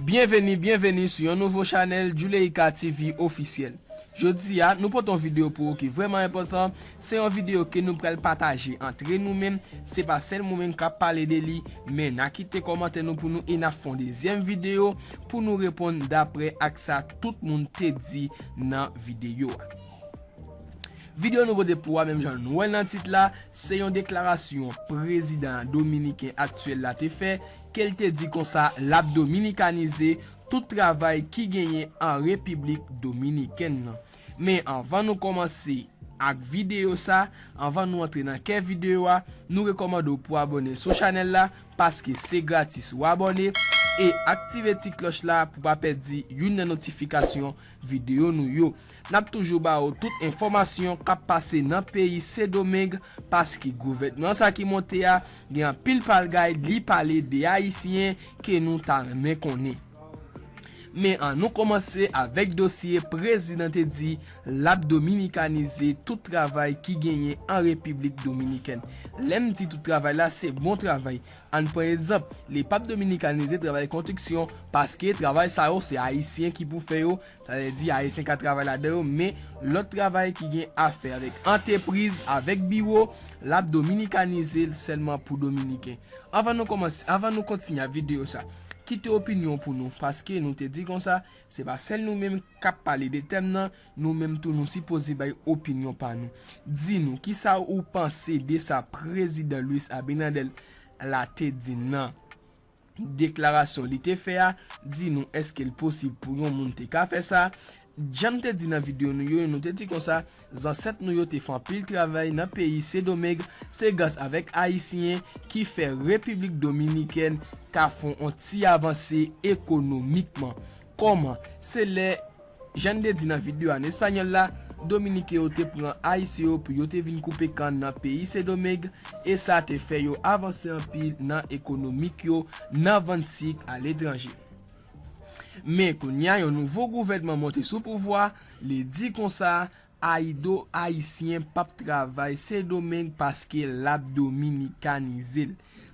Byenveni byenveni sou yon nouvo chanèl Juleyka TV officiel Jodi a nou pote yon video pou ou ki vrèman enpòtan Se yon video ke nou pral pataje antre nou menm Se pa sèl mwen menm kap pale de li Men na kite kòmantè nou pou nou e nap fè yon dezyèm video pou nou reponn daprè ak sa tout moun te di nan video a Video nou pote pou ou a menm jan nou wèl nan tit la Se yon deklarasyon prezidan dominiken aktyèl la te fè ke l te di konsa l ap dominikanize tout travay ki genyen an Repiblik Dominikèn nan. Men anvan nou kòmanse ak videyo sa, anvan nou antre nan kè videyo a, nou rekòmande w pou abòne sou chanèl la, paske se gratis ou abòne, e aktive ti klòch la pou pa pèdi youn nan notifikasyon Video nou yo. Nap toujou ba ou tout enfòmasyon kap pase nan peyi Sendomeng paske gouvènman sa ki monte a gen anpil palgay li pale de ayisyen ke nou ta renmen konnen. Men an nou kòmanse avèk dosye prezidan te di lap dominikanize tout travay ki genyen an Repiblik Dominikèn. Lèm di tout travay la se bon travay. Ann pran ezanp, li pap dominikanize travay kontriksyon, paske travay sa yo se ayisyen ki pou fè yo, sa vle di ayisyen ka travay ladan yo, men lòt travay ki gen afè avèk antepriz, avèk biwo, lap dominikanize l sèlman pou dominiken. Anvan nou kòmanse, anvan nou kontinye ak videyo sa, kite opinyon w pou nou, paske nou te di konsa, se pa sèl nou menm kap pale de tèm nan, Nou menm tou nou sipoze bay opinyon pa nou. Di nou, kisa ou panse de sa Prezidan Luis Abinader la te di nan deklarasyon li te fè a? Di nou, èske l posib pou yon moun te ka fè sa? Jan m te di nan videyo nou yo, nou te di konsa, zansèt nou yo te fè anpil travay nan peyi Sedomeng, se gras avèk Ayisyen ki fè Repiblik Dominikèn ka fè yon ti avanse ekonomikman. Kòman? Se lè. Jan n te di nan videyo an espanyòl la, Dominiken yo te pran Ayisyen yo pou yo te vin koupe kann nan peyi Sendomeng e sa te fè yo avanse anpil nan ekonomik yo nan vann sik aletranje. Men kounye a yon nouvo gouvènman monte sou pouvwa, li di konsa, Ayido Ayisyen p ap travay Sendomeng paske l ap dominikanize l.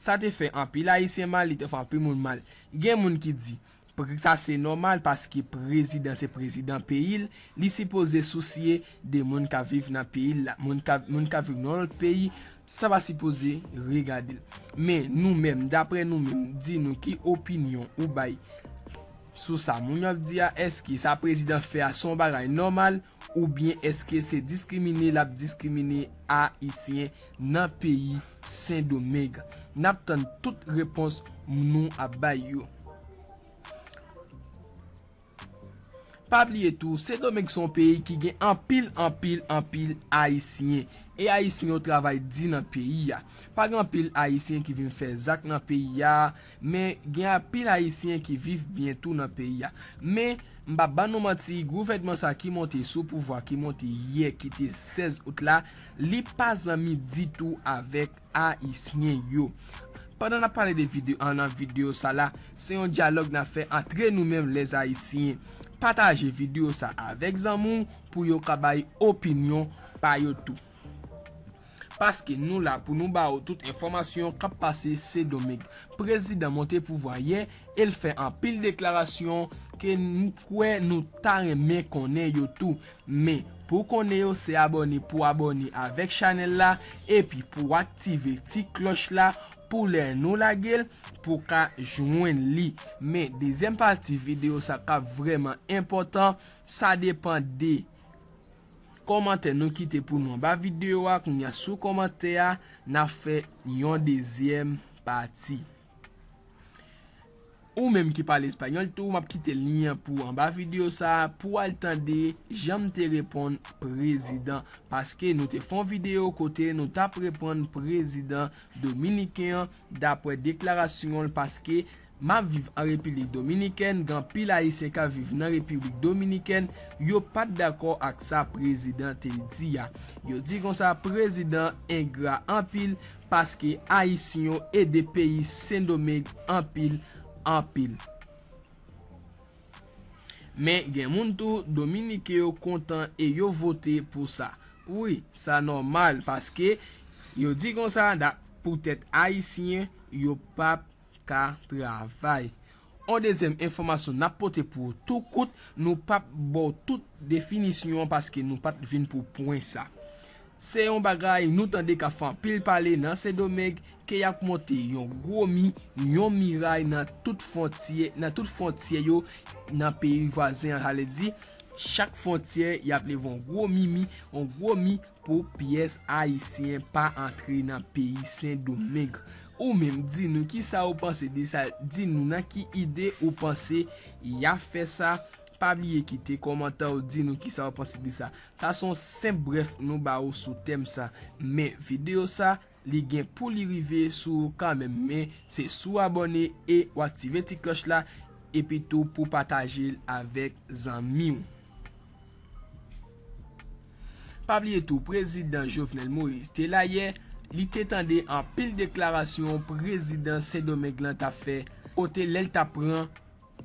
Sa te fè anpil Ayisyen mal, li te fè anpil moun mal. Gen moun ki di, Pkk sa se nòmal paske prezidan se prezidan peyi l, li sipoze sousye de moun kap viv nan peyi l la, moun kap moun kap viv nan yon lòt peyi sa pa sipoze regade l. Men nou menm daprè nou menm di nou ki opinyon ou bay sou sa moun yo ap di a, èske sa prezidan fè a se yon bagay nòmal? Oubyen eske se diskrimine lap diskrimine ayisyen nan peyi sendomeng? Nap tann tout repons mnou ap bay yo. Pa bliye tou sendomeng son peyi ki gen anpil anpil anpil ayisyen e ayisyen yo travay di nan peyi a. Pa gen anpil ayisyen ki vin fè zak nan peyi a. Men, gen anpil Ayisyen ki viv byen tou nan peyi a. Men, m pap ban nou manti, gouvènman sa ki monte sou pouvwa ki monte yè ki te 16 out la, li pa zanmi ditou avèk Ayisyen yo. Pandan n ap pale de vide nan videyo sa la, se yon dyalòg n ap fè antre nou menm lè Ayisyen. Pataje videyo sa avèk zanmi w pou yo ka bay opinyon pa yo tou. Paske nou la pou nou ba ou tout enfòmasyon kap pase Sedomik. Prezidan monte pouvwa yè e l fè anpil deklarasyon ke m kwè nou ta renmen konnen yo tou. Men, pou konnen yo se abòne pou abòne avèk chanèl la epi pou aktive ti klòch la pou lè nou lage l, pou w ka jwenn li. Men, dezyèm pati videyo sa kap vrèman enpòtan, sa depan de. Kòmantè nou kite pou nou anba video a kounya sou kòmantè a nap fè yon dezyèm pati. Ou menm ki pale espanyòl tou map kite lyen an pou anba video sa pou al tande janm te reponn prezidan paske nou te fon video kote nou tap reponn prezidan dominiken an dapwè deklarasyonl paske Map viv an Repiblik Dominikèn gen anpil ayisyen kap viv nan Repiblik Dominikèn yo pat dakò ak sa prezidan te di a yo di konsa prezidan engra anpil paske ayisyn yo ede peyi sendomeg anpil anpil men gen moun tou dominiken yo kontan e yo vote pou sa wi sa nòmal paske yo di konsa da poutèt ayisyen yo pap ka travay. On dezyèm enfòmasyon nap pote pou ou tou kout, nou pap baw tout definisyon an paske nou pat vin pou pwen sa. Se yon bagay nou tande kap fè anpil pale nan Sendomeng ke yap monte yon gwo mi, yon miray nan tout fontyè, nan tout fontyè yo nan peyi vwazen an sa vle di chak fontyè yap leve yon gwo mi mi, yon gwo mi Pou pyès Ayisyen pa antre nan peyi Sendomeng. Ou menm, di nou kisa ou panse de sa, di nou nan ki ide ou panse ya fè sa, pa bliye kite kòmantè ou di nou kisa ou panse de sa. Sa son senp brèf nou ba ou sou tèm sa. Men videyo sa Li gen pou li rive sou ou kan menm men se si w abòne e w aktive ti klòch la epi tou pou w pataje l avèk zanmi w. Pa bliye tou prezidan Jovenel Moïse te la yè, li te tande anpil deklarasyon prezidan Sendomeng lan t ap fè kote lè l t ap pran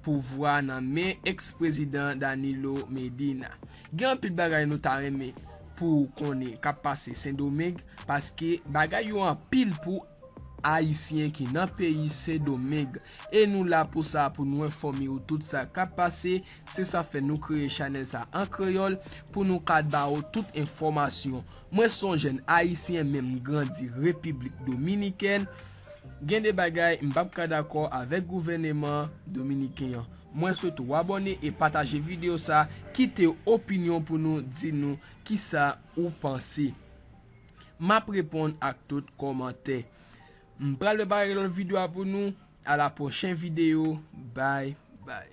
Pouvwa nan men ex prezidan Danilo Medina. Gen anpil bagay nou ta renmen pou ou konnen kap pase sendomeng paske bagay yo anpil pou Ayisyen ki nan peyi sendomeng e nou la pou sa pou nou enfòme ou tout sa kap pase se sa fè nou kreye chanèl sa an kreyòl pou nou ka ba ou tout enfòmasyon mwen son jèn Ayisyen menm grandi repiblik dominikèn Gen de bagay m pap ka dakò avèk gouvèneman dominiken an. Mwen swete w abòne e pataje video sa kite opinyon pou nou di nou kisa ou panse. Map reponn ak tout kòmantè. M pral prepare lòt video a pou nou a la pwochen video bye bye.